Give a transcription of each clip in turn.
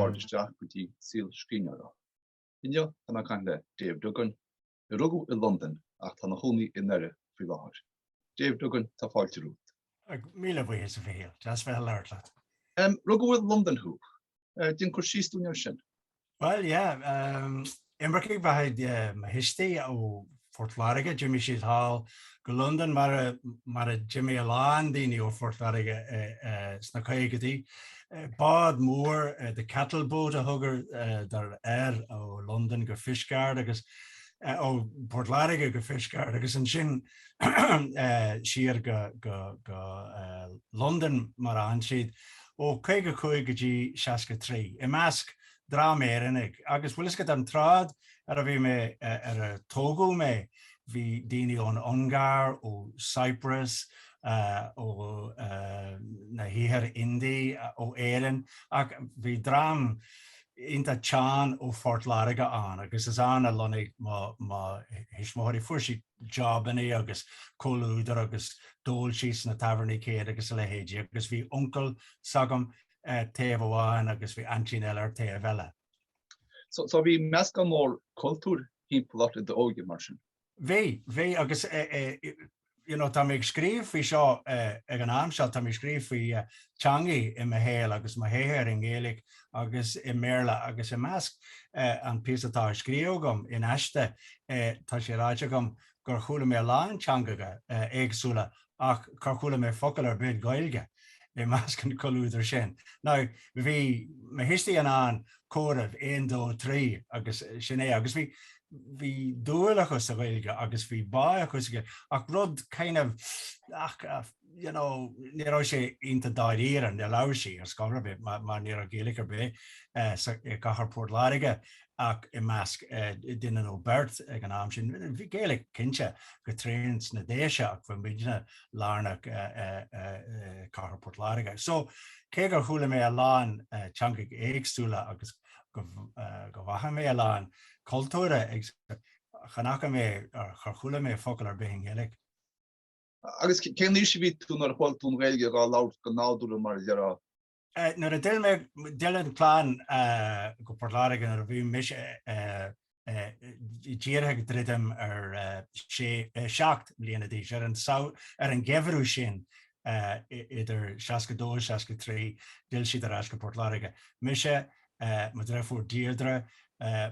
Táim isteach go dtí saol scríbhneoireachta. Inniu tá mé ag caint le Dave Duggan, a rugadh i Londain ach tá ina chónaí i nDoire faoi láthair. Dave Duggan, tá fáilte romhat. Míle buíochas, a Mhichíl. Deas bheith ag labhairt leat. Rugadh i Londain thú? Déan cur síos dúinn air sin. Bhuel, yeah. Imircigh ba ea mo thuistí ó Phort Láirge. D'imigh siad thall go Londain mar, mar a d'imigh a lán daoine ó Phort Láirge sna caogaidí. Bád mór, the cattle boat a thugadar air, ó Londain go Fishguard agus, ó Phort Láirge go Fishguard agus ansin, siar go Londain mar ar fhan siad, ó 55 go dtí 63, i measc dream Éireannaigh. Agus bhuel, i measc an tsráid ar a bhí mé, ar ar tógadh mé, bhí daoine ón Ungáir, ó Cyprus, ó na hIarthar Indí, ó Éirinn, ach bhí dream iontach teann ó Phort Láirge ann, agus is ann a lonnaigh mo thuismitheoirí. Fuair siad jabannaí agus comhluadar agus d'ól siad sna tábhairní céanna agus a leithéidí agus bhí uncail s'agam ar taobh amháin agus bhí aintín eile ar taobh eile. So bhí meascán mór cultúir timpeall ort i d'óige mar sin? Bhí, bhí agus you know tá mé ag scríobh faoi seo ag an am seo, tá mé ag scríobh faoi teangacha i mo shaol agus mo shaothar i nGaeilge agus i mBéarla agus i measc an píosa atá á scríobh agam in aiste tá sé ráite agam gur chuala mé a lán teangacha éagsúla ach char chuala mé focal ar bith Gaeilge i measc an comhluadair sin. Now bhí mo thuistí in ann comhaireamh aon dó trí agus sin é agus bhí bhí dúil acu sa Ghaeilge agus bhí bá acu sa Ghaeilge ach rud kind of ach you know ní raibh sé iontach dáiríre, níor labhair siad ar scor ar bith mar ní raibh Gaeilge ar bith i gcathair Phort Láirge ach i measc duine nó beirt ag an am sin. Bhí Gaeilge cinnte go tréan sna Déise ach bhí muidne lárnach i gcathair Phort Láirge. So cé gur chuala mé a lán teangacha éagsúla agus go bhfaca mé a lán cultúir éagsúla, chan fhaca mé, char chuala mé focal ar bith i nGaeilge. Agus cén aois a bhí tú nuair a chuala tú an Ghaeilge á labhairt go nádúrtha mar a déarfá? Nuair a d'fhill mé d'fhill an clann go Port Láirge nuair a bhí mise díreach ag druidim ar sé seacht mbliana d'aois ar an ar an geimhreadh sin idir 62 63 d'fhill siad ar ais go Port Láirge. Mise mo dhreifiúr Deirdre,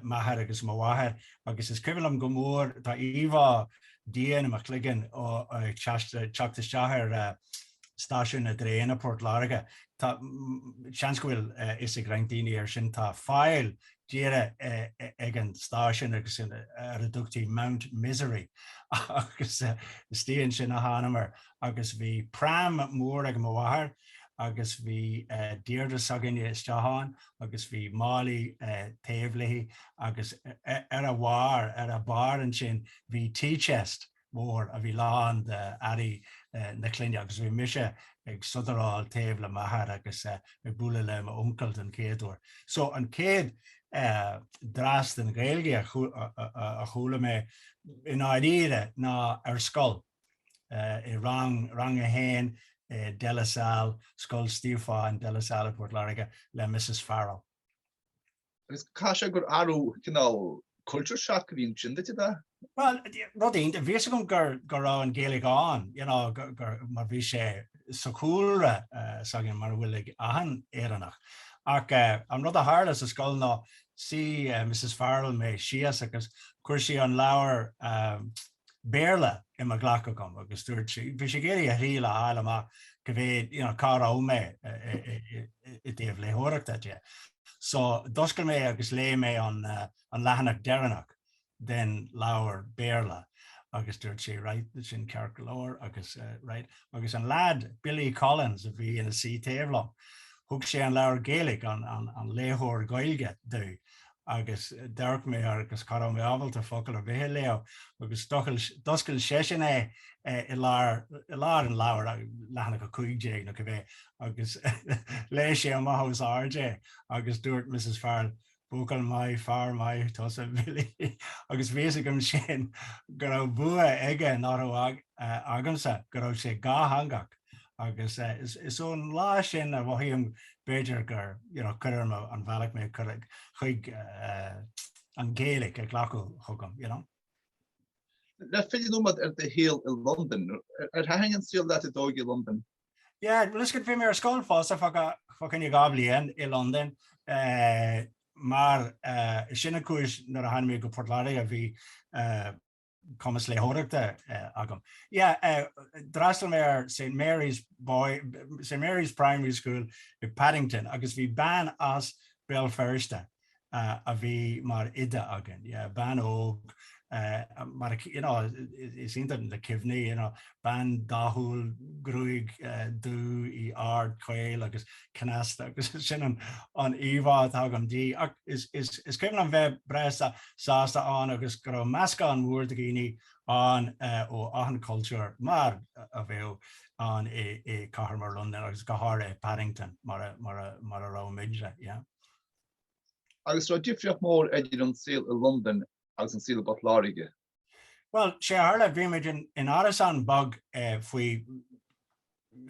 m'athair agus mo mháthair, agus is cuimhin liom go mór, tá íomhá dian i mo chloigeann ó ag teacht isteach ar stáisiún na dtraen i bPort Láirge. Tá, seans go bhfuil fhios ag roinnt daoine air sin, tá faill tíre ag an stáisiún agus ar a dtugtaí Mount Misery agus is dian sin a thánamar. agus bhí pram mór ag mo mháthair agus bhí Deirdre s'againne istigh ann agus bhí málaí taobh léi agus ar a bharr, ar a barr ansin bhí tea chest mór a bhí lán de earraí na clainne agus bhí mise ag sodaráil taobh le m'athair agus ag bualadh le m'uncail don chéad uair. So an chéad dreas den Ghaeilge a chuala mé i ndáiríre ná ar scoil. i rang, Rang 1 i De La Salle, Scoil Stiofáin, De La Salle i bPort Láirge, le Missus Farrell. Agus caithfidh sé gur athrú cineál culture shock a bhí ansin duit, ab ea? Bhuel, rud éigin. Bhí fhios agam gur, go raibh an Ghaeilge ann, you know, gur, gur, mar bhí sé sa chúlra s'againn, mar a bhfuil ag achan Éireannach. Ach an rud a tharla sa scoil ná, shuigh Missus Farrell mé síos agus chuir sé an leabhar, Béarla i mo ghlac agam agus dúirt sé, bhí sé ag iarraidh a dh'fháil a fháil amach cé mhéad, you know, cá raibh mé i dtaobh léitheoireachta de. So, d'oscail mé agus léigh mé an, an leathanach deireanach den leabhar Béarla agus dúirt sé, right, sin ceart go leor agus, right, agus an lead, Billy Collins, a bhí ina suí taobh liom, thug sé an leabhar Gaelic, an, an, an léitheoir Gaeilge, domh agus d'amharc mé air agus cha rabh mé ábalta focal ar bith a léamh, agus d'oscail seisean é i lár i lár an leabhair, leathanach a cúig déag nó cibé, agus léigh sé amach os ard é, agus dúirt Missus Farrell, Buachaill maith, fear maith tusa, Bhilly, agus bhí fhios agam sin go rabh bua aige nach rabh agamsa, go rabh sé dátheangach. Agus is ón lá sin a mhothaím b'fhéidir gur cuir orm an bhealach mé cur chuig an Ghaeilic a ghlacadh chugam, you know. Le filleadh nóiméad ar do shaol i Londain, ar thaitin an saol leat i d'óige i Londain? Yeah, bhuel is go bhí mé ar scoil fosta fágtha dhá bhliain i Londain. Mar sin an chúis nuair a tháinig mé go Port Láirge bhí cumas léitheoireachta agam. D'fhreastail mé ar Saint Mary's Boys, Saint Mary's Primary School i Paddington agus bhí bean as Béal Feirste a bhí mar oide againn. Bean óg, mar, you know, is iontach na cuimhní, you know, Bean dathúil, gruaig dubh, í ard, caol agus cneasta agus sin an íomhá atá agam dí. Ach is cuimhin liom bheith breá sásta ann agus go raibh meascán mór de dhaoine ann ó achan chultúr, mar a bheadh ann i cathair mar Londain agus go háirithe Paddington mar a raibh muidne. Agus an raibh difríocht mhór idir an saol i Londain agus an saol i bPort Láirge. Bhuel, sé a tharla, bhí muid in árasán beag faoi,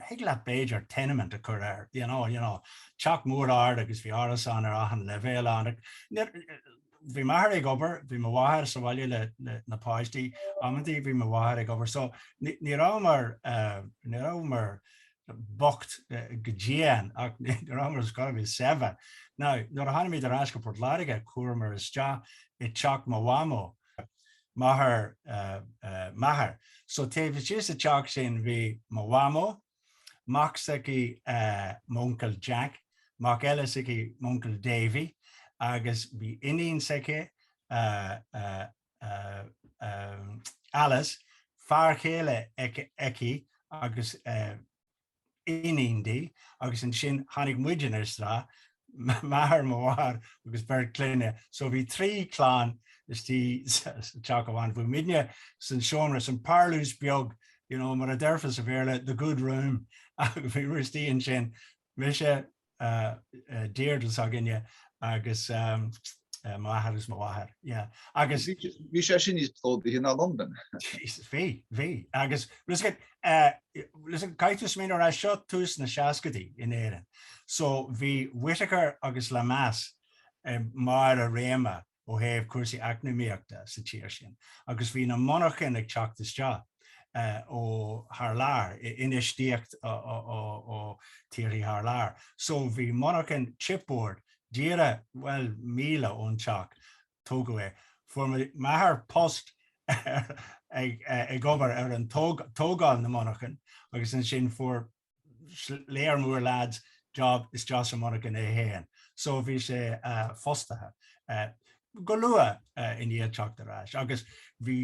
thig leat b'fhéidir tenement a chur air, you know, you know, teach mór ard agus bhí árasáin ar achan leibhéal ann. Bhí m'athair ag obair, bhí mo mháthair sa bhaile le na páistí, amantaí bhí mo mháthair ag obair so ní rabhamar, ní rabhamar bocht go dian ach ní rabhamar chóir a bheith saibhir. Now, nuair a tháinig muid ar ais go Port Láirge, chuamar isteach i dteach mo mhamó, máthair m'athar. So taobh istigh sa teach sin bhí mo mhamó, mac s'aici m'uncail Jack, mac eile s'aici m'uncail Davy agus bhí iníon s'aici, Alice, fear chéile aici agus. iníon di agus ansin tháinig muidinne isteach, m'athair, mo mháthair agus beirt clainne. So bhí trí chlann istigh sa teach amháin. Bhí muidinne san seomra, san parlús beag, you know, mar a déarfá sa Bhéarla, the good room, bhíomar istigh ansin, mise, Deirdre s'againne agus m'athair agus mo mháthair. Bhí sé sin níos plódaithe ná Londain. Bhí, bhí. Agus listen, caithfidh mé a rá, seo tús na seascaidí in Éirinn, so bhí Whitaker agus Lemass i mbarr a réime, ó thaobh cúrsaí eacnamaíochta sa tír sin agus bhí na monarchain ag teacht isteach ó thar lear, infheistíocht ó thíorthaí thar lear. So bhí monarchan chipboard díreach, bhuel, míle ón teach, tógadh é. Fuair m'athair post ag obair ar an tógáil na monarchan agus ansin fuair léir mór leaid job istigh sa monarchan é féin so bhí sé fostaithe go luath i ndiaidh teacht ar ais agus bhí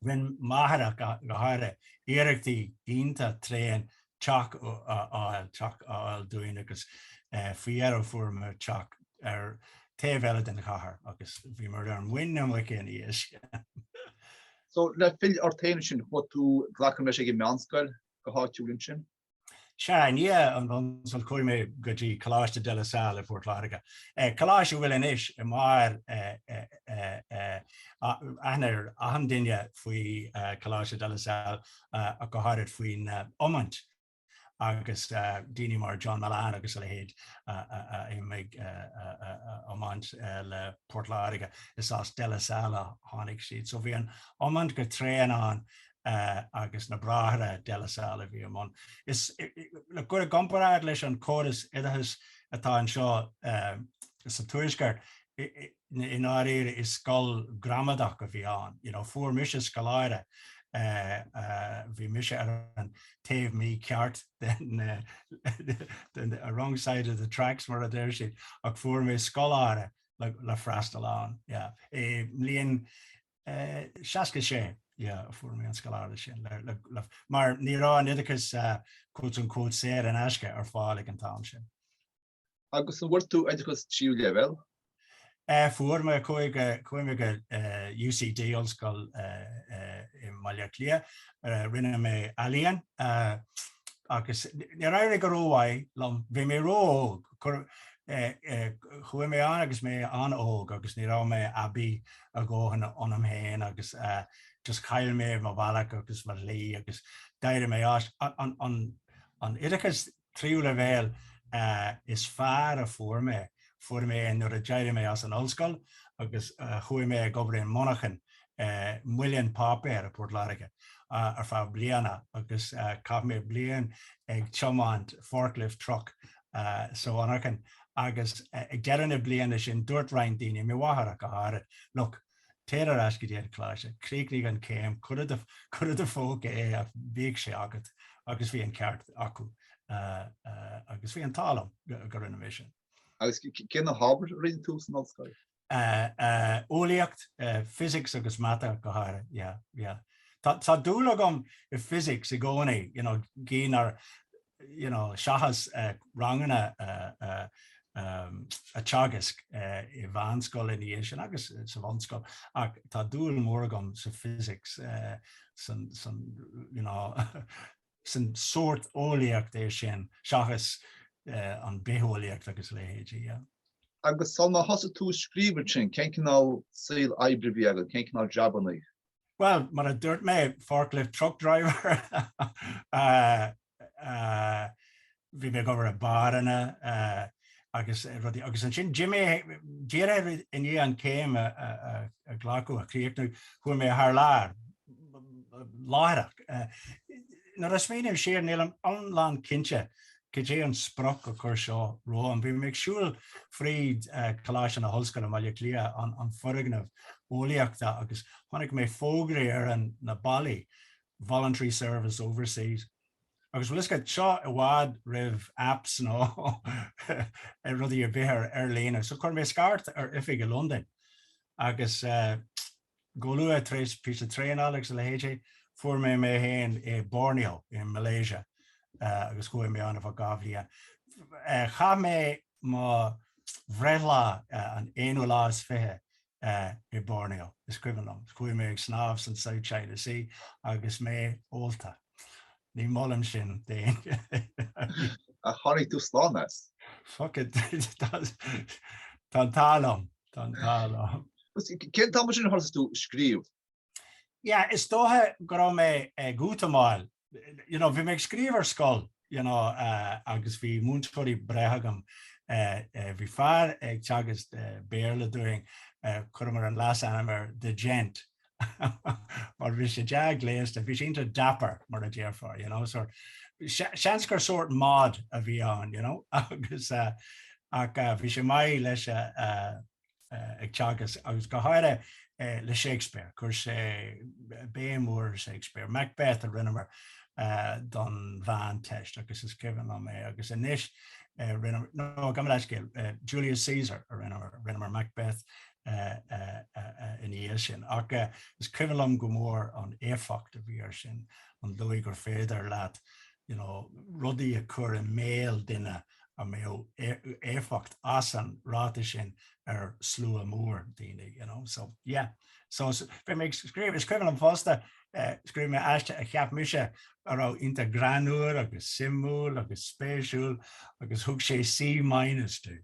rinn mo mháthair ach go háirithe iarrachtaí iontach tréan teach a fháil teach a fháil dúinn agus faoi dheireadh fuaireamar teach ar taobh eile den chathair agus bhíomar ar muin na muice ina dhiaidh sin. So, le pilleadh ort féin ansin, chuaigh tú glacaim leis ag an meánscoil, go háitiúil ansin? Sea, i ndiaidh an bhunscoil chuaigh mé go dtí Coláiste de la Salle i bPort Láirge, coláiste a bhfuil anois i mbarr, aithne ar achan duine faoi Coláiste de la Salle, go háirid faoin iomáint. agus daoine mar John Mullane agus a leithéid ag iomáint le Port Láirge, is as De La Salle a tháinig siad. So bhí an iomáint go tréan ann agus na bráithre De La Salle a bhí i mbun. Le cur i gcomparáid leis an córas oideachais atá anseo sa Tuaisceart, i ndáiríre is scoil gramadach a bhí ann you know fuair mise scoláireacht bhí mise ar an taobh mícheart den a wrong side of the tracks mar a deir siad ach fuair mé scoláireacht le, le freastal ann yeah. i mbliain uh, 66 yeah, fuair mé an scoláireacht sin le, le, le, mar ní raibh an oideachas uh, cúirt an cúirt saor in aisce ar fáil ag an am sin. Agus an bhfuair tú oideachas tríú leibhéal? Fuair mé chuaigh, chuaigh mé go UCD, Ollscoil i mBaile Átha Cliath. Rinne mé eolaíocht agus níor éirigh go rómhaith liom. Bhí mé ró-óg. Chuaigh mé ann agus mé an-óg agus ní raibh mé aibí go leor dóthain ionam féin agus just chaill mé mo bhealach agus mo shlí agus d'éirigh mé as. An oideachas Tríú leibhéal is fearr a fuair mé, fuair mé é nuair a d'éirigh mé as an ollscoil agus chuaigh mé ag obair i monarcha, muileann páipéir i bPort Láirge ar feadh bliana agus chaith mé bliain ag tiomáint forklift truck sa mhonarcha agus ag deireadh na bliana sin dúirt roinnt daoine, mo mháthair go háirid, look, Téir ar ais go dtí an coláiste, críochnaigh an céim, cuir i do phóca é ach bhíodh sé agat agus bhí an ceart acu agus bhí an t-ádh liom go ndearna mé sin. Agus cé na hábhair a rinne tú san ollscoil? Eolaíocht, Physics agus Mata go háirithe, yeah, yeah. Tá dúil agam i Physics i gcónaí, you know, cé nár, seachas ranganna a teagasc i meánscoil ina dhiaidh sin agus sa bhunscoil, ach tá dúil mhór agam sa physics, san sórt eolaíocht é sin, seachas an bitheolaíocht agus a leithéidí. Agus sula thosaigh tú ag scríobh ansin, cén cineál saol oibre a bhí agat, cén cineál jabanna? Bhuel, mar a dúirt mé, forklift truck driver, bhí mé ag obair i mbáranna agus rudaí, agus ansin d'imigh mé díreach i ndiaidh an céim a ghlacadh, a chríochnú, chuaigh mé thar lear, láithreach. Nuair a smaoiním siar, nílim iomlán cinnte cad é an splanc a chuir seo romham? Bhí mé ag siúl fríd Coláiste na hOllscoile i mBaile Átha Cliath, an foirgneamh eolaíochta, agus chonaic mé fógraí ar na ballaí, Voluntary Service Overseas. Agus bhfuil 'fhios agat, seo i bhfad roimh apps nó rudaí ar bith ar líne. So chuir mé scairt ar oifig i Londain agus. Go luath tar éis píosa traenála agus a leithéid, fuair mé mé féin i Borneo i Malaysia agus chuaigh mé ann ar feadh dhá bhliain. Chaith mé mo bhreithlá an aonú lá is fiche i Borneo, is cuimhin liom. Chuaigh mé ag snámh san South China Sea agus mé ólta. Ní mholfainn sin d'éinne. Ach tháinig tú slán as. Tá an t-ádh liom. Gan dabht ann. Cén t-am sin a thosaigh tú ag scríobh? Yeah, is dócha go raibh mé ag útamáil, you know, bhí mé ag scríobh ar scoil, you know, uh, agus bhí múinteoirí breátha agam, uh, uh, bhí fear ag teagasc uh, Béarla dúinn, uh, chuireamar an leasainm ar The Gent, mar bhí sé dea-ghléasta, bhí sé iontach dapper mar a déarfá, you know, so seans gur sórt mod a bhí ann, you know, agus ach bhí sé maith leis an teagasc agus go háirithe le Shakespeare, chuir sé béim mhór ar Shakespeare. Macbeth a rinneamar don Mheánteist agus is cuimhin liom é agus anois rinneamar, no, gabh mé leithscéal, Julius Caesar a rinneamar, rinneamar Macbeth ina dhiaidh sin. Ach is cuimhin liom go mór an éifeacht a bhí aige sin, an dóigh gur féidir leat you know rudaí a chur i mbéal duine a mbeadh éifeacht ag an ráiteas sin ar slua mór daoine you know. So yeah, so bhí mé ag scríobh, is cuimhin liom fosta scríobh mé aiste a cheap mise a raibh iontach greannúr agus suimiúil agus spéisiúil agus thug sé C minus dom.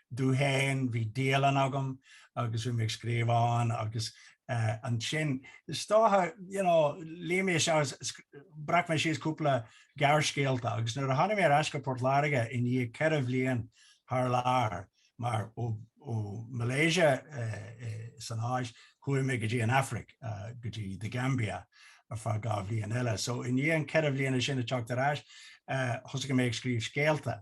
dom féin, bhí dialann agam agus bhí mé ag scríobh ann agus ansin is dócha you know luigh mé isteach, bhreac mé síos cúpla gearrscéalta agus nuair a tháinig mé ar ais go Port Láirge i ndiaidh ceithre bhliain thar lear mar ó ó Malaysia san Áis chuaigh mé go dtí an Afraic go dtí The Gambia ar feadh dhá bhliain eile so i ndiaidh an ceithre bhliana sin ag teacht ar ais thosaigh mé ag scríobh scéalta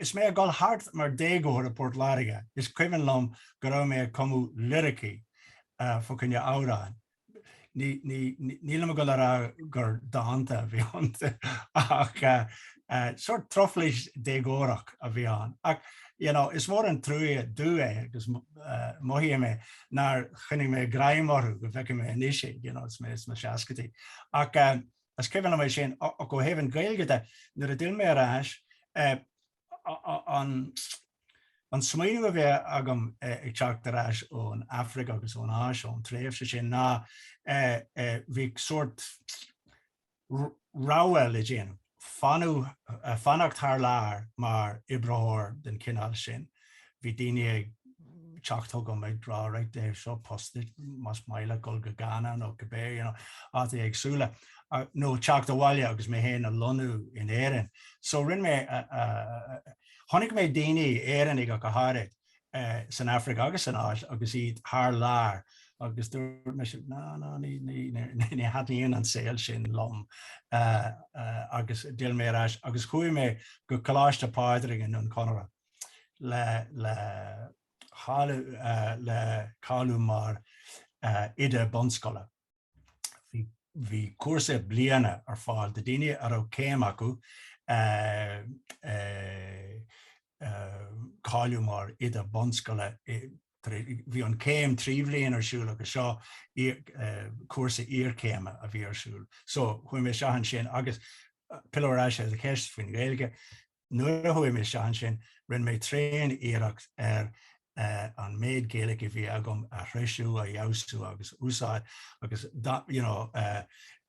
Is mé ag dul thart mar déagóir i bPort Láirge, is cuimhin liom go raibh mé ag cumadh liricí fa choinne amhráin. Nílim ag dul a rá gur dánta a bhí iontu ach sórt truflais déagórach a bhí ann. Ach you know, is mór an trua é, dubh é agus mothaíonn mé, nár choinnigh mé greim orthu go bhfeicfeadh mé anois iad, you know, is mé sna seascaidí. Ach. Is cuimhin liom é sin ach ó thaobh an Gaeilge de, nuair a d'fhill mé ar ais, an smaoineamh a bhí agam ag teacht ar ais ón Aifric agus ón Áis, ón tréimhse sin, ná bhí sórt rogha le déanamh, fanacht thar lear mar oibreoir den chineál sin, Bhí daoine ag teacht chugam ag rá right, seo post duit más maith leat dhul go Ghana nó cibé, you know, áiteacha éagsúla, nó teacht abhaile agus mé féin a lonnú in Éirinn. So rinne mé, chonaic mé daoine, Éireannaigh ach go háirid, san Afraic agus san Áis agus iad thar lear agus dúirt mise ná, ná, ní, ní, ní thaitníonn an saol sin liom. Agus d'fhill mé ar ais agus chuaigh mé go Coláiste Phádraig i nDroim Conrach. le cáiliú mar oide bunscoile. Bhí cúrsa bliana ar fáil do daoine a raibh céim acu cáiliú mar oide bunscoile. Bhí an céim trí bhliain ar siúl agus seo cúrsa iarchéime a bhí ar siúl. So chuaigh mé isteach ansin agus pilleadh ar ais ar an cheist faoin Ghaeilge, Nuair a chuaigh mé isteach ansin, rinne mé tréan iarracht ar an méid Gaeilig a bhí agam a threisiú, a fheabhsú agus a úsáid agus you know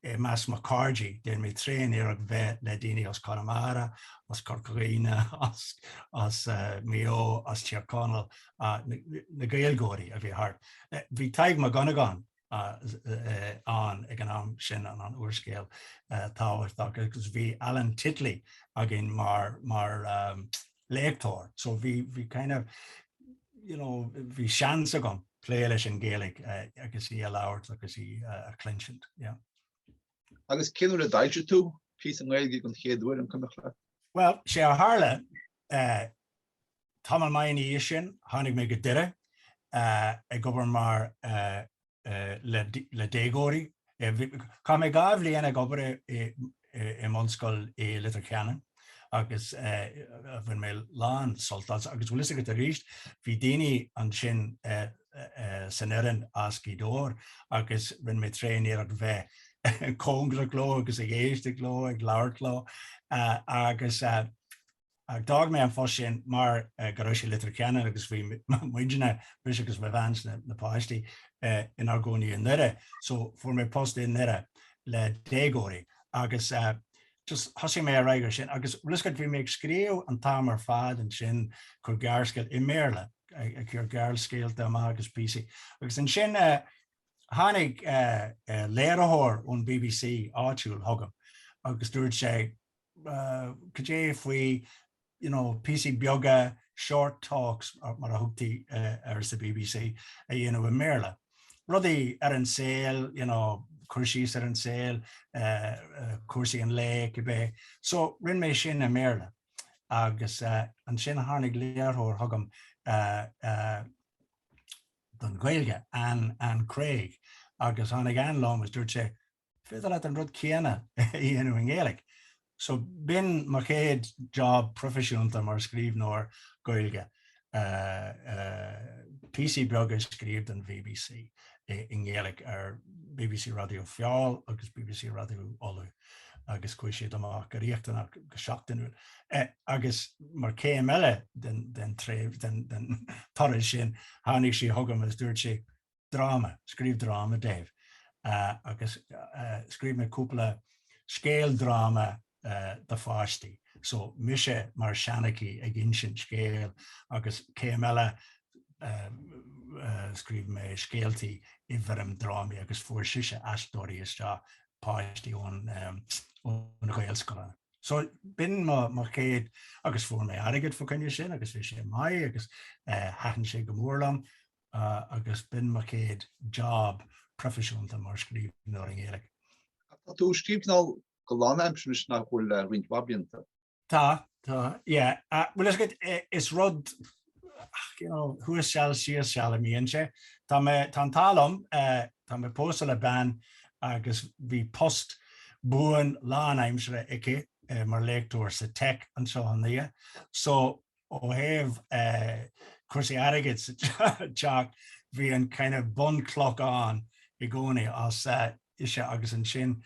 i measc mo cairde, déan mé tréan iarracht bheith le daoine as Conamara, as Corca Dhuibhne, as as Maigh Eo, as Tír Conaill, na Gaeilgeoirí a bhí thart. Bhí Tadhg Mac Dhonnagáin ann ag an am sin, an t-úrscéalaí, agus bhí Alan Titley againn mar mar léachtóir so bhí bhí kind of you know bhí seans agam plé leis an Ghaeilge agus í a labhairt agus í a chluinstin, yeah. Agus cén uair a d'fhoilsigh tú píosa Gaeilge den chéad uair, an cuimhneach leat? Bhuel, sé a tharla Tamall maith ina dhiaidh sin, tháinig mé go Doire ag obair mar le déagóirí. Chaith mé dhá bhliain ag obair i mbunscoil i Leitir Ceanainn agus bhain mé lán sult as. Agus bhfuil fhios agat arís, bhí daoine ansin san fhoireann as Gaoth Dobhair agus rinne mé tréaniarracht bheith cóngarach leo agus ag éisteacht leo, ag labhairt leo agus. Ach d'fhág mé an post sin mar go raibh sé i Leitir Ceanainn agus bhí muidne, mise agus mo bhean is na páistí, inár gcónaí i nDoire. So fuair mé post i nDoire le déagóirí agus just thosaigh mé ar aghaidh ar sin. Agus bhfuil 'fhios agat, bhí mé ag scríobh an t-am ar fad ansin, cur gearrscéalta i mBéarla, ag cur gearrscéalta amach agus píosaí. Agus ansin tháinig léiritheoir ón BBC áitiúil chugam agus dúirt sé, cad é faoi you know píosaí beaga, short talks mar a thugtaí air sa BBC, a dhéanamh i mBéarla. Rudaí ar an saol you know, cur síos ar an saol, cúrsaí an lae cibé. So rinne mé sin i mBéarla agus ansin tháinig léiritheoir chugam don Ghaeilge, Anne Craig, agus tháinig Anne liom agus dúirt sí, féidir leat an rud céanna a dhéanamh i nGaeilge. So, b'in mo chéad job proifisiúnta mar scríbhneoir Gaeilge, píosaí beaga a scríobh don bbc i nGaeilge ar bbc Raidió Feabhail agus bbc Raidió Uladh agus chuaigh siad amach go rialta, go seachtainiúil. Agus mar chéim eile den tréimh, den toradh sin, tháinig sí chugam agus dúirt sí, dráma, scríobh dráma daofa agus scríobh mé cúpla scéal dráma do pháistí, so mise mar seanchaí ag insint scéal agus céim eile scríobh mé scéaltaí i bhfoirm drámaí agus fuair sise aisteoirí isteach, páistí ó na Gaelscoileanna. So b'in mo mo chéad agus fuair mé airgead fá choinne sin agus bhí sé maith agus thaitin sé go mór liom. agus b'in mo chéad job proifisiúnta mar scríbhneoir i nGaeilge. Tá tú ag scríobh cineál go lánaimseartha anois nach bhfuil le roinnt mhaith blianta? Tá, tá, yeah. Bhuel is gud, is rud, you know, thuas seal, thíos seal a bhíonn sé. Tá mé, tá an t-ádh liom, tá mé pósta le bean agus bhí post buan lánaimseartha aici mar léachtóir sa Tech anseo i nDoire. So. Ó thaobh cúrsaí airgid sa teach, bhí an kind of bunchloch ann i gcónaí, as ise agus ansin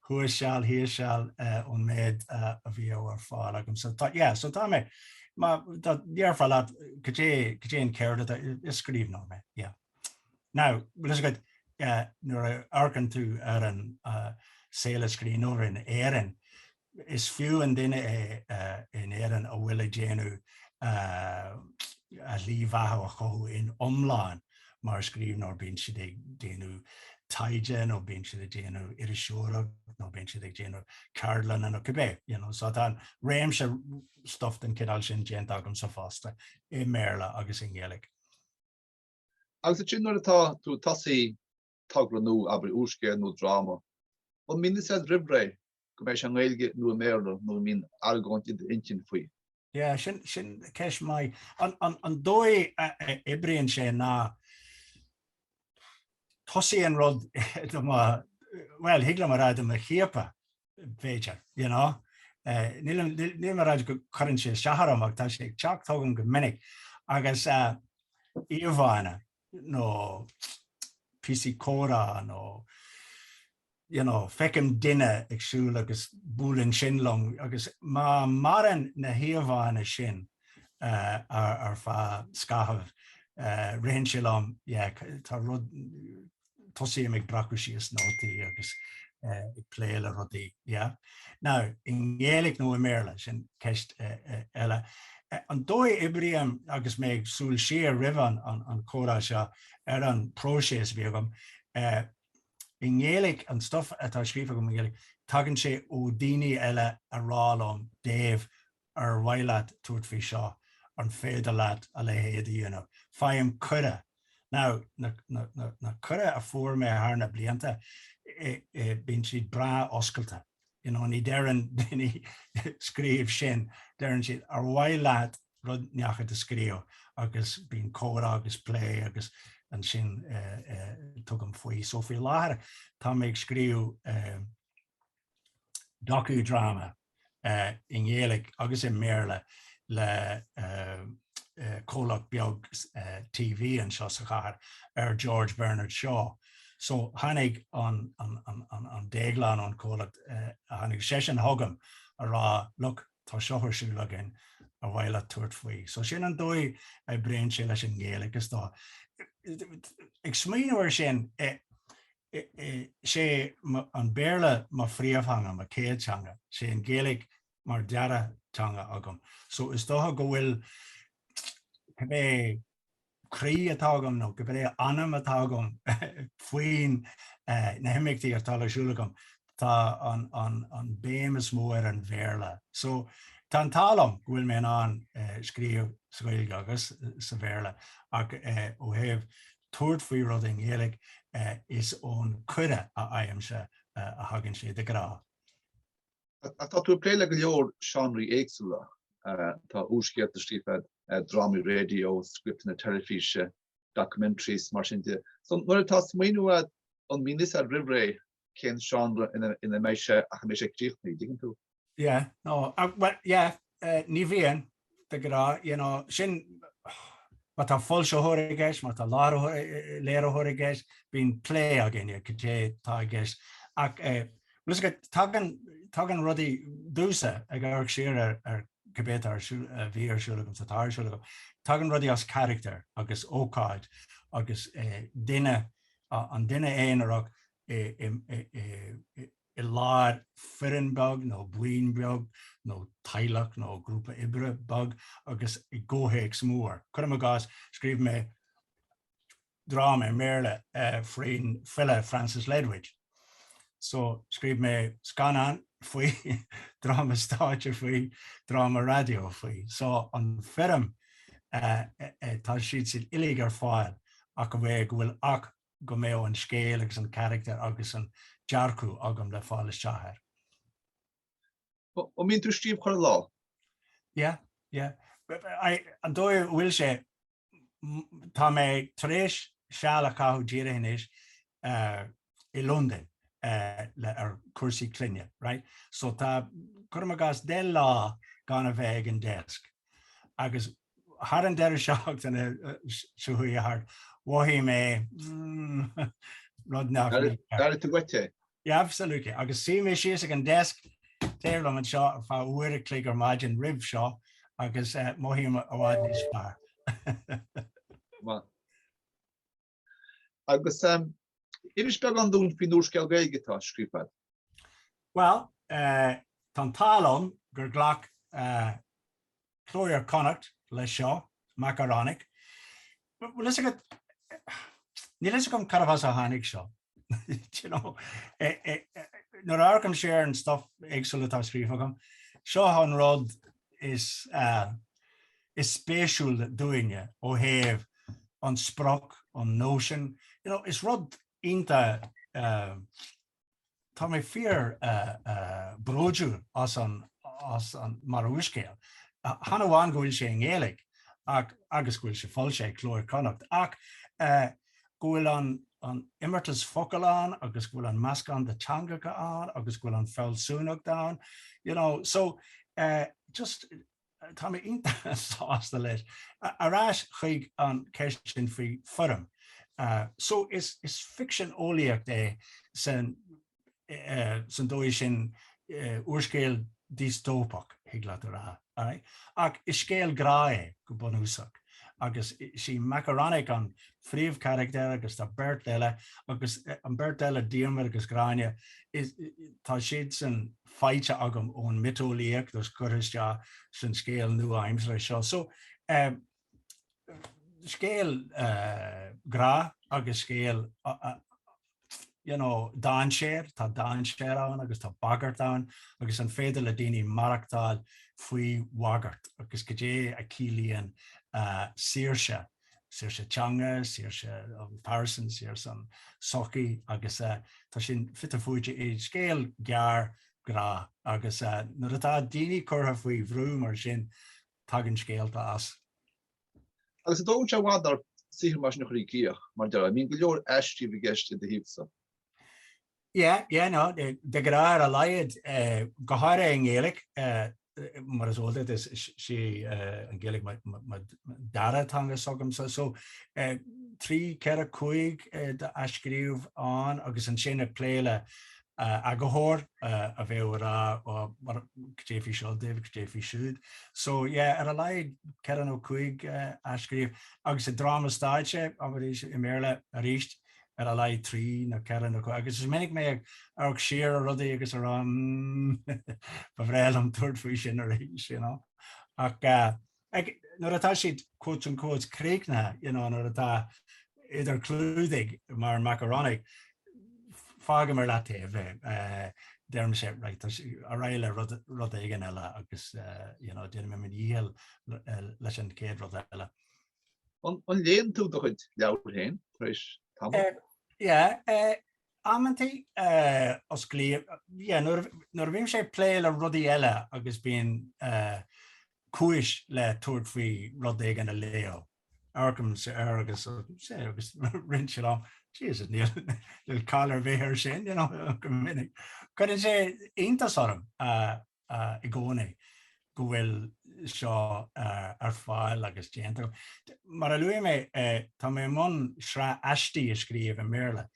thuas seal, thíos seal ón méid a bhíodh ar fáil agam. So tá, yeah, so tá mé, má tá, déarfainn leat, goidé, goidé an cheird atá, is scríbhneoir mé, yeah. Now, bhfuil fhios agat, nuair a amharcann tú ar an saol ag scríbhneoir in Éirinn, Is fíorannamh duine é in Éirinn a bhfuil ag déanamh, a shlí bheatha a chothú in iomlán mar scríbhneoir, bíonn siad ag déanamh taighde nó bíonn siad ag déanamh iriseoireacht nó bíonn siad ag déanamh ceardlanna nó cibé you know. So tá réimse stuff den chineál sin déanta agamsa fosta, i mBéarla agus i nGaeilge. Agus ansin nuair atá tú ag tosú togra nó abair úrscéal nó dráma, an mbíonn a fhios agat roimh ré go mbeidh sé i nGaeilge nó i mBéarla nó an mbíonn argóint i d'intinn faoi. Yeah, sin, sin ceist mhaith. An, an, an dóigh a oibríonn sé ná tosaíonn rud do mo, bhuel, thig liom a rá do mo chiapadh, b'fhéidir, you know. Níl, níl, nílim ag rá go gcuireann sé isteach orm ach tá sé ag teacht chugam go minic. Agus, eh, íomhánna, nó píosaí comhrá nó you know feicim duine ag siúl agus buaileann sin liom agus má maireann na híomhánna sin uh, ar, ar feadh scaithimh uh, ritheann sé liom yeah, tá rud tosaím ag breacadh síos nótaí agus ag plé le rudaí, yeah? Now, i nGaeilge nó i mBéarla, sin ceist eile. An dóigh a oibrím agus mé ag siúl siar roimh an comhrá seo ar an bpróiseas a bhí agam, i nGaeilge, an stuff atá scríofa agam i nGaeilge, tagann sé ó daoine eile ag rá liom, Dave, Ar mhaith leat tabhairt faoi seo? An féidir leat a leithéid, you know? Faighim cuireadh. Now, na cuirí a fuair mé thar na blianta, bíonn siad breá oscailte. You know, ní deireann daoine 'scríobh sin', deireann siad 'ar mhaith leat rud ínteacht a scríobh? agus bíonn comhrá agus plé agus ansin tugaim faoi. So, faoi láthair, tá mé ag scríobh. docu-drama i nGaeilge agus i mBéarla le comhlacht beag TV anseo sa chathair ar George Bernard Shaw. So tháinig an Déaglán ón comhlacht, tháinig seisean chugam ag rá look tá seo ar siúl againn ar mhaith leat tabhairt faoi? So sin an dóigh a oibríonn sé leis an nGaeilge. Is dócha ag smaoineamh air sin, sé an Béarla mo phríomhtheanga, mo chéad teanga. Sé an Ghaeilge mar dara teanga agam. So is dócha go bhfuil cibé croí atá agam nó cibé anam atá agam faoin na himeachtaí atá ar siúl agam, tá an bhéim is mó ar an Bhéarla. So tá an t-ádh liom go bhfuil mé in ann scríobh sa Ghaeilge agus sa Bhéarla ach ó thaobh tabhairt faoi rud i nGaeilge, is ón cuireadh a fhaighimse a thagann sé, de ghnáth. Tá tú ag plé le go leor seánraí éagsúla, tá úrscéalta scríofa agat, drámaí raidió, scripteanna teilifíse, documentaries, mar sin de. So, nuair atá smaoineamh agat, an mbíonn 'fhios a'd roimhré cén seánra ina mbeidh sé ach a mbeidh sé críochnaithe, dtuigeann tú? Yeah, no, bhuel, yeah, ní bhíonn, de ghnáth, you know, sin, má tá foilsitheoir i gceist, má tá léiritheoir i gceist, bíonn plé againn ar cad é atá i gceist. Ach tagann rudaí domhsa, ag amharc siar ar cibé atá ar siúl, a bhí ar siúl agam, atá ar siúl agam, tagann rudaí as carachtar agus ócáid agus duine Tá an duine aonarach i lár foireann beag nó buíon beag nó teaghlach nó grúpa oibre beag agus i gcomhthéacs mór. Cuirim i gcás, scríobh mé dráma i mBéarla faoin file Francis Ledwidge. So, scríobh mé scannán faoi, dráma stáitse faoi, dráma raidió faoi. So, an foirm, tá siad siad uilig ar fáil ach a bhfuil go bhfuil ach go mbeadh an scéal agus an carachtar agus an dearcadh agam le fáil isteach air. An mbíonn tú ag scríobh chuile lá? Yeah, yeah. An dóigh a bhfuil sé, tá mé tar éis seal a chaitheamh díreach anois i Londain ar chúrsaí clainne, right? So tá, cuirim i gcás, deich lá gan a bheith ag an deisc, agus Thar an deireadh seachtaine seo chuaigh thart, mhothaigh mé rud nach raibh. D'airigh tú uait é? Absolutely. Agus shuigh mé síos ag an desk, dar liom anseo ar feadh uair a chloig ar maidin roimh seo agus mothaím i bhfad níos fearr. Agus inis beagán dúinn faoin úrscéal Gaeilge atá á scríobh a'd. Bhuel, tá an t-ádh liom gur ghlac Cló Iar-Chonnacht leis seo, Madame Lazare. Bhuel, is ea, níl fhios agam cá háit as a dtáinig seo. you know, nuair a amharcaim siar ar an stuff éagsúil atá scríofa agam, seo an rud is speisiúla domh ó thaobh an sprioc, an notion, you know, is rud iontach, tá mé fíorbhródúil as an, as an, mar úrscéal. Chan amháin go bhfuil sé i nGaeilge ach, agus go bhfuil sé foilsithe ag Cló Iar-Chonnacht, ach go bhfuil an t-imeartas focal ann agus go bhfuil an meascán de teangacha ann agus go bhfuil an fealsúnacht ann you know so eh just tá mé iontach sásta leis ar ais chuig an ceist sin faoi foirm eh so is ficsean eolaíocht é san san dóigh sin, úrscéal diostóipeach, thig leat a rá. Ach is scéal grá é, go bunúsach, agus is í Makaronik an phríomhcharachtar agus tá beirt eile, agus an beirt eile, Diarmuid agus Gráinne, tá siadsan faighte agam ón mioteolaíocht agus curtha isteach san scéal nua-aimseartha seo. scéal grá agus scéal you know dainséir, tá dainséar ann agus tá bagairt ann agus an féidir le daoine maireachtáil faoi bhagairt agus goidé a ciallaíonn uh, saoirse, saoirse teanga, saoirse an phearsain, saoirse an sochaí agus uh, tá sin fite fuaite i scéal gearr grá agus uh, nuair atá daoine curtha faoi bhrú mar sin Tagann scéalta as. Agus an dtógann sé i bhfad ort saothar mar sin a chur i gcríoch, mar déarfá. Bíonn go leor athscríobh i gceist de do thaobhsa. Yeah, yeah, no, de ghnáth ar a laghad. Go háirithe i nGaeilge, mar is eol duit, is é an Ghaeilge mo dara teanga s'agamsa. So, trí, ceithre, cúig d'athscríobh ann agus ansin ag plé le eagarthóir a bheadh ag rá á goidé faoi seo Dave goidé faoi siúd so yeah ar a laghad ceithre nó cúig athscríobh agus i dráma stáitse as i mBéarla arís ar a laghad trí nó ceithre nó cúig agus is minic mé ag amharc siar ar rudaí agus a rá hmm ba bhreá liom tabhairt faoi sin arís you know ach Ach, nuair atá siad quote unquote críochnaithe, you know, nuair atá idir clúdaigh mar Makaronik, fágaim ar leataobh é, deirim right, ar aghaidh le rud éigin eile agus you know, déanaim mo dhícheall leis an chéad rud eile. An léann tú do chuid leabhar féin tar éis tamall? Yeah, amantaí osclaím, yeah, nuair a bhím ag plé le rudaí eile agus bíonn cúis le tabhairt faoi rud éigin a léamh. Amharcaimse air agus agus arsa mise liom, Jesus, níl caill ar bith air sin, you know, go minic. Cuireann sé iontas orm i gcónaí go bhfuil seo ar fáil agus déanta agam. Mar a luaigh mé, tá mé i mbun sraith aistí a scríobh i mBéarla.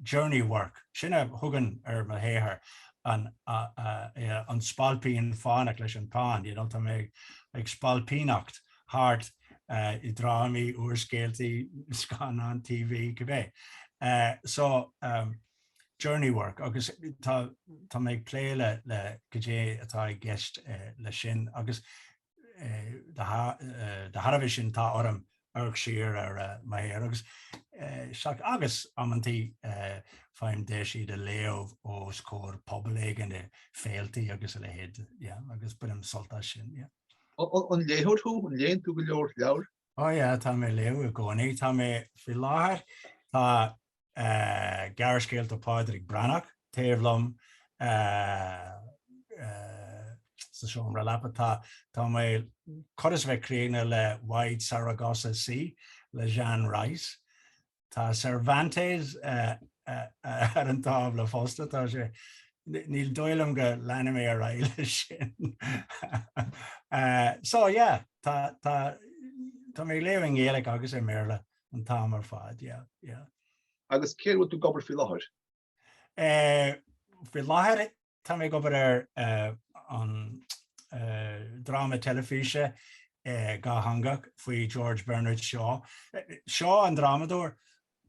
journey work, sin a thugaim ar mo shaothar an an Spailpín Fánach leis an pheann, you know tá mé ag spailpíneacht thart i drámaí, úrscéaltaí, scannáin TV, cibé. So journey work agus tá tá mé ag plé le le goidé atá i gceist leis sin agus Dá thairbhe sin, tá orm amharc siar ar mo shaothar agus sea, agus amantaí faighim deis iad a léamh os comhair pobal éigin i féiltí agus a leithéid, agus bainim sult as sin. An léitheoir thú? An léann tú go leor leabhar? Ó yeah, tá mé ag léamh i gcónaí. Tá mé, faoi láthair, tá Gearrscéalta Phádraic Breathnach taobh liom sa seomra leapa. Tá tá mé chóir a bheith críochnaithe le Wide Saragossa Sea le Jean Rhys. Tá Cervantes ar an tábla fosta, tá sé, ní dóigh liom go leanfaidh mé ar aghaidh leis sin. So yeah, tá mé ag léamh i nGaeilge agus i mBéarla an t-am ar fad, yeah, yeah. Agus cé air a bhfuil tú ag obair faoi láthair? Faoi láthair tá mé ag obair ar dhráma teilifíse dhátheangach faoi George Bernard Shaw. Shaw an drámadóir,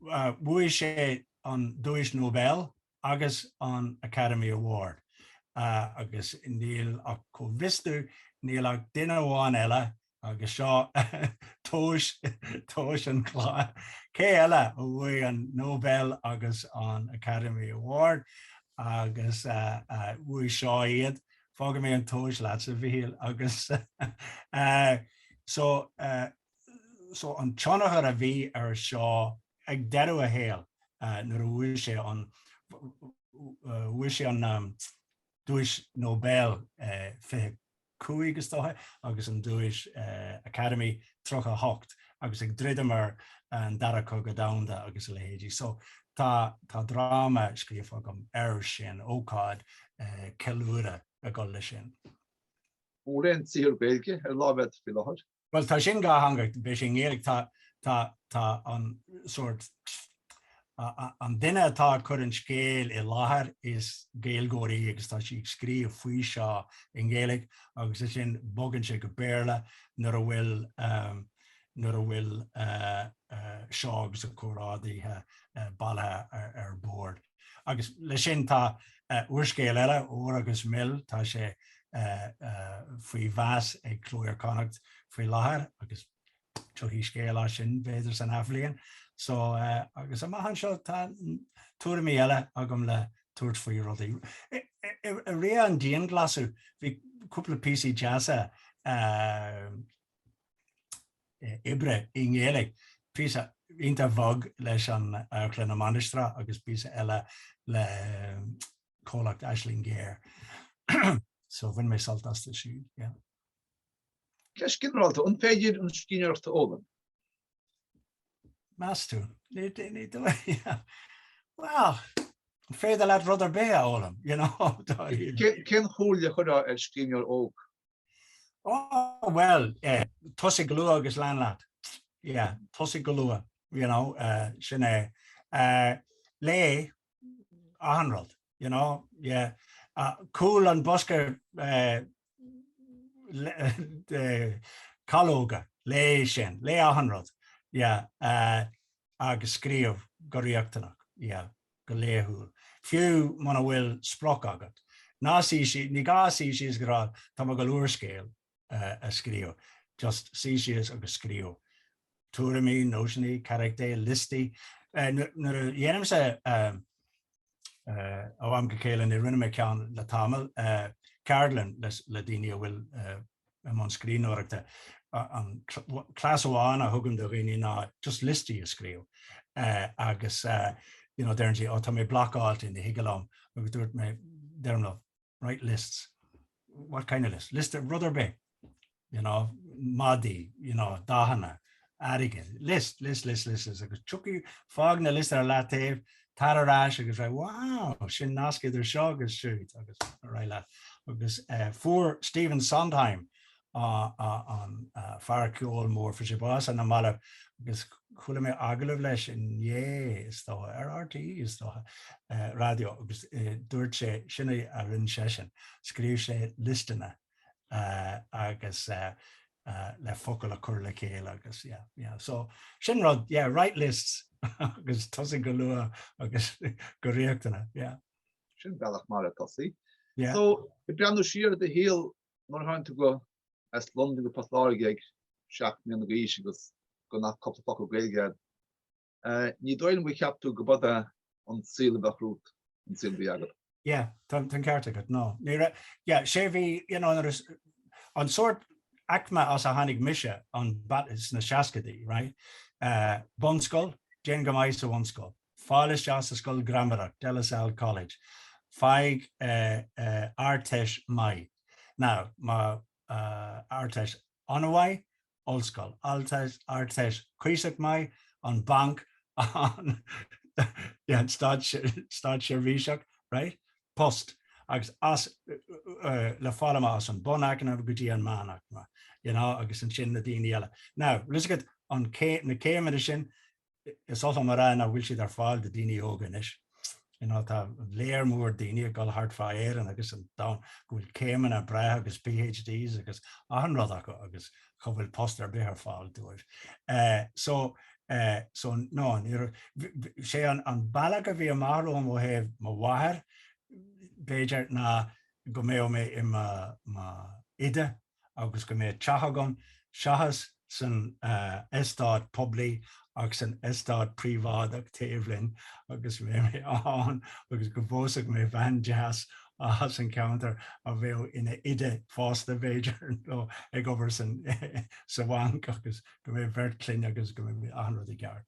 bhuaigh sé an Duais Nobel agus an Academy Award agus níl ach, go bhfios dom, níl ach duine amháin eile Agus seo tomhais, tomhais an chláir, cé eile a bhuaigh an Nobel agus an Academy Award agus bhuaigh Shaw iad, fágfaidh mé an tomhais leatsa a Mhichíl, agus so, so an tionchar a bhí ar Shaw ag deireadh a shaoil nuair a bhuaigh sé an, bhuaigh sé an, Duais Nobel 25, is dócha, agus an Duais Academy 38, agus ag druidim ar an Dara Cogadh Domhanda agus a leithéidí. So tá dráma scríofa agam ar sin, ócáid ceiliúradh ag dul leis sin. Mórán saothar Gaeilge ar lámh agat faoi láthair. Bhuel tá sin dhátheangach, beidh sé i nGaeilge, tá, tá, tá an sórt, an duine atá ag cur an scéil i láthair is Gaeilgeoir í agus tá sí ag scríobh faoi Shaw i nGaeilge agus ansin bogann sé go Béarla nuair a bhfuil, nuair a bhfuil Shaw agus a chomrádaithe bailithe ar bord. agus le sin tá úrscéal eile, Ór agus Mil, tá sé faoi mheas ag Cló Iar-Chonnacht faoi láthair agus tiocfaidh scéal as sin b'fhéidir san athbhliain. So agus amach anseo tá tuairimí eile agam le tabhairt faoi rudaí. I rith an dianghlasáil bhí cúpla píosaí deasa oibre i nGaeilge, píosa iontach bhog leis an amharclann i Mainistreach agus píosa eile le comhlacht Aisling Ghéar. So bhain mé sult as siúd, yeah. Ceist ghinearálta, an féidir an scríbhneoireacht a fhoghlaim? Meas tú? Ní dóigh. Well, an féidir leat rud ar bith a fhoghlaim, you know? Cén chomhairle a chuirfeá ar scríbhneoir óg? Ó, bhuel, tosaigh go luath agus lean leat. Yeah, tosaigh go luath, you know, sin é. Léigh achan rud, you know, yeah. Cúl an bosca calóga, léigh sin, léigh achan rud, yeah, agus scríobh go rialtach, yeah. go laethúil, fiú muna bhfuil sprioc agat. Ná suí síos, ní gá suí síos agus rá tá mé ag dul úrscéal a scríobh. Just suí síos agus scríobh tuairimí, nósanna, carachtair, liostaí. Nuair a dhéanaimse, ó am go céile, ní dhearna mé ceann le tamall, ceardlann le daoine a bhfuil i mbun scríbhneoireachta, an cleas amháin a thugaim do dhaoine ná just liostaí a scríobh agus you know deireann siad oh tá mé blockáilte ní thig liom agus dúirt mé deirim leo write lists, what kind of list? Liosta rud ar bith, you know, madaí, you know, dathanna, airgid. List, list, list, list, list, agus tiocfaidh, fág na liostaí ar leataobh, tar ar ais agus rá, wow, sin nasc idir seo agus siúd, agus ar aghaidh leat. Agus fuair Stephen Sondheim, an fear ceoil mór, fuair sé bás ar na mallaibh, agus chuala mé agallamh leis inné, is dócha, ar RTÉ, is dócha, raidió, agus dúirt sé, sin a rinne seisean, scríobh sé liostanna, agus le focail a chur le chéile agus yeah yeah so sin rud yeah write lists agus tosaigh go luath agus go rialtach yeah. Sin bealach maith le tosú. Yeah. So ag breathnú siar ar do shaol nuair a tháinig tú as Londain go Port Láirge ag seacht mbliana d'aois agus gan ach cúpla focal Gaeilge Ní dóigh liom gur cheap tú gurb é an saol a bheadh romhat an saol a bhí agat. Yeah, tá an ceart agat, no. Ní raibh, yeah, sé bhí, you know, an sort aicme as a tháinig mise ins na seascadaí, right? Uh, bunscoil, déan go maith sa bhunscoil, fáil isteach sa scoil gramadaí, De La Salle College, faigh uh, uh, ardteist maith. Now, má uh, ardteist an-mhaith, ollscoil. Ardteist cuíosach maith, an banc, an státseirbhíseach, right? post, agus as, le fáil amach as an bhunaicme go dtí an meánaicme, you know, agus ansin na daoine eile. Now, tá a fhios agat an, na céimeanna sin, is oth liom a rá nach bhfuil siad ar fáil do dhaoine óga anois. You know, tá lear mór daoine ag dul thart fá Éirinn agus an domhan go bhfuil céimeanna breátha agus PhDs agus achan rud acu agus cha bhfuil post ar bith ar fáil dóibh. Eh, so, eh, so no, ní raibh, bh, sé an, an bealach a bhí amach romham ó thaobh mo mháthar, b'fhéidir, ná go mbeadh mé i mo, mo, oide agus go mbeadh teach agam seachas san eastát poiblí ach san eastát príobháideach taobh linn agus go mbeadh mé ann agus go bpósfadh mé bean deas as an cheantar a bheadh ina oide fosta b'fhéidir nó ag obair sa bhanc agus go mbeadh beirt chlainne agus go mbeadh achan rud i gceart.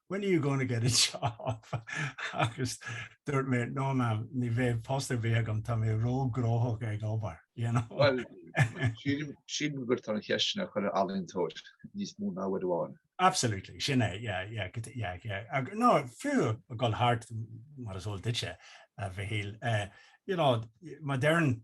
'When are you going to get a job? agus dúirt mé, 'No mam, ní bheidh post ar bith agam, tá mé ró-ghnóthach ag obair', you know. Bhuel, sílim gur tá an cheist sin ar chuile ealaíontóir, níos mó ná uair amháin. Absolutely, sin é, yeah, yeah, yeah, yeah. Nó fiú ag dul thart, mar is eol duitse, a Mhichíl, you know, má deireann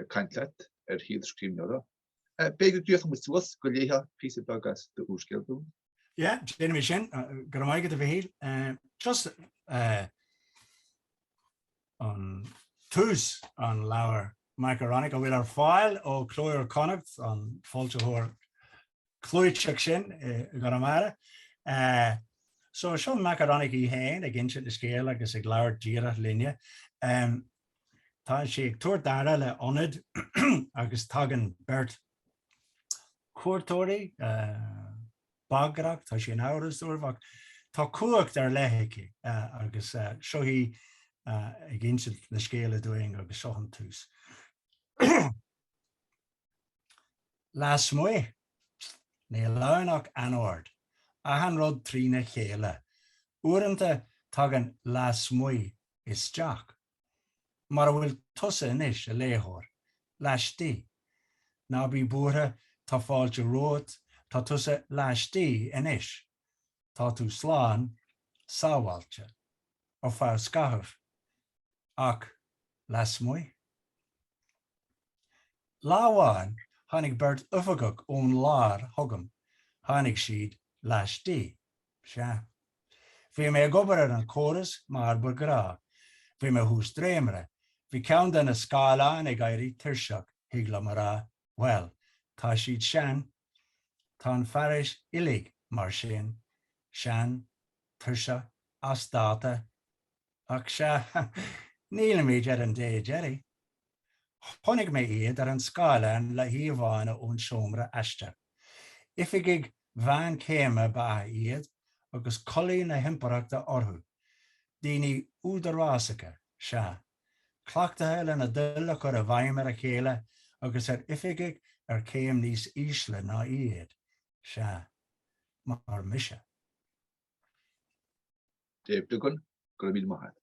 ag caint leat ar shaol an scríbhneora. B'fhéidir go díreach amuigh suas go léifeá píosa beag as d'úrscéal dúinn. Yeah, déanaimid sin, go raibh maith agat a Mhichíl. Just ón tús an leabhar Makaronik atá ar fáil ó Chló Iar Chonnacht, an foilsitheoir. clúiteach sin i gConamara. So seo Makaronik í fhéin ag insint a scéil agus ag labhairt díreach linne. Tá sí ag tabhairt aire le ionad agus tagann beirt chuairteoirí bagrach, tá sí in amhras dóibh ach tá cumhacht ar leith aici agus seo í ag insint an scéil dúinn agus seo an tús. Lasmuigh, níl ann ach anord, achan rud trína chéile. Uaireanta tagann 'lasmuigh' isteach, mar a bhfuil tusa anois, a léitheoir, laistigh. Ná bí buartha, tá fáilte romhat, tá tusa laistigh anois. tá tú slán sábháilte, ar feadh scaithimh, ach lasmuigh? Lá amháin tháinig beirt oifigeach ón lár chugam, tháinig siad laistigh. Sea. Bhí mé ag obair ar an chóras mar ba ghnách. Bhí mé thuas dréimire. Bhí ceann de na scáileáin ag éirí tuirseach, thig liom a rá. Bhuel, tá siad sean, Tá an fearais uilig mar sin, sean, tuirseach, as dáta, ach sea, nílimid ar an dé deiridh. Chonaic mé iad ar an scáileán le híomhánna ón seomra aistir. Oifigigh mheánchéime ba ea iad, agus culaith na himpireachta orthu. Daoine údarásacha, sea. cleachtaithe lena dtoil a chur i bhfeidhm ar a chéile agus ar oifigigh ar chéim níos ísle ná iad, sea, mar mise. Dave Duggan, Go raibh míle maith agat.